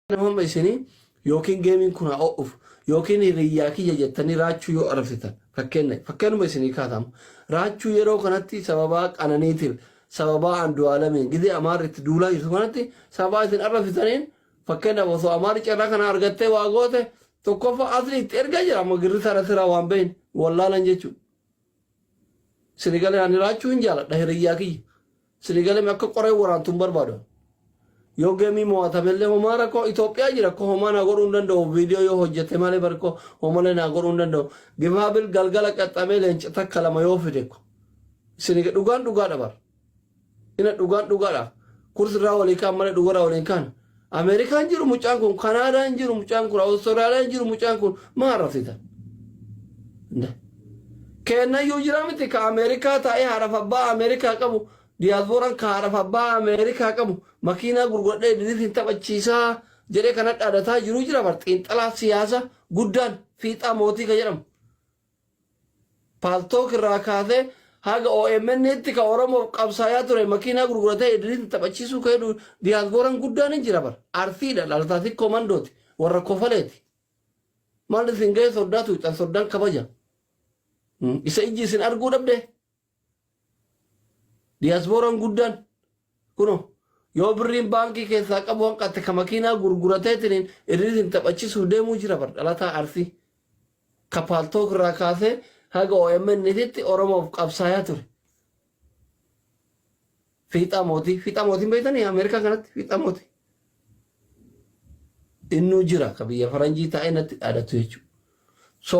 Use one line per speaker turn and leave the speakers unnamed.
Nama hamma isinii yookiin geemiin kun haa o'uuf yookiin hiriyyaa kiyya jettanii raachuu yoo arrabsitan fakkeenna fakkeenuma isinii kaataam raachuu yeroo kanatti sababaa qananiitiif sababaa andu'aalamiin gidee amaarri itti duulaa jirtu kanatti sababaa isin arrabsitaniin fakkeenyaaf osoo amaarri carraa kana argattee waa goote tokkoffaa asli itti erga jira amma girri taratira waan behin wallaalan jechuudha. Sinigale ani raachuu hin jaaladha hiriyyaa kiyya. Sinigale me akka qoreen waraantu hin barbaadu. ani. Yoo geemii mo'atamellee homaa rakkoo Itoophiyaa jira ko homaa naa godhuu hin danda'u viidiyoo yoo hojjete malee bari ko homalee naa godhuu hin danda'u. Gifaabil galgala qaxxamee leenca takka lama yoo fide ko. Siniga dhugaan dhugaadha bar. Ina dhugaan dhugaadha. Kurs irraa walii kaan malee dhugarraa walii hin kaan. Ameerikaan jiru mucaan kun, Kanaadaan jiru mucaan kun, Awustiraaliyaan jiru mucaan kun maa arrabsitan? Keennayyuu jira miti ka Ameerikaa taa'ee haadhaaf abbaa Ameerikaa qabu diyaasbooraan ka haadhaaf abbaa Ameerikaa qabu makiinaa gurguradhee idiliif hin taphachiisaa jedhee kan hadhaadataa jiru jira bar xiinxalaa siyaasa guddaan fiixaa mootii ka jedhamu. Paltalk irraa kaasee haga omn tti ka Oromoof qabsaayaa ture makiinaa gurguratee Idriisitti taphachiisuu ka hedu diyaasbooran guddaan hin jira bar. Arsii dha dhalataa sikkoo mandooti. Warra kofalee ti. Maal isin gahee soddaa tuuyxan soddaan kabaja. Isa ijji isin arguu dhabdee? Diyaasbooran guddaan kuno yoo birriin baankii keessaa qabu hanqatte ka makiinaa gurgurateetiniin irriitiin taphachisuuf deemuu jira bar dhalataa arsii ka paaltook irraa kaasee haga OMN titti Oromoof qabsaayaa ture. Fiixaa mootii fiixaa mootiin beektanii Ameerikaa kanatti fiixaa mootii. Innuu jira ka biyya faranjii taa'ee natti dhaadatu jechuudha. So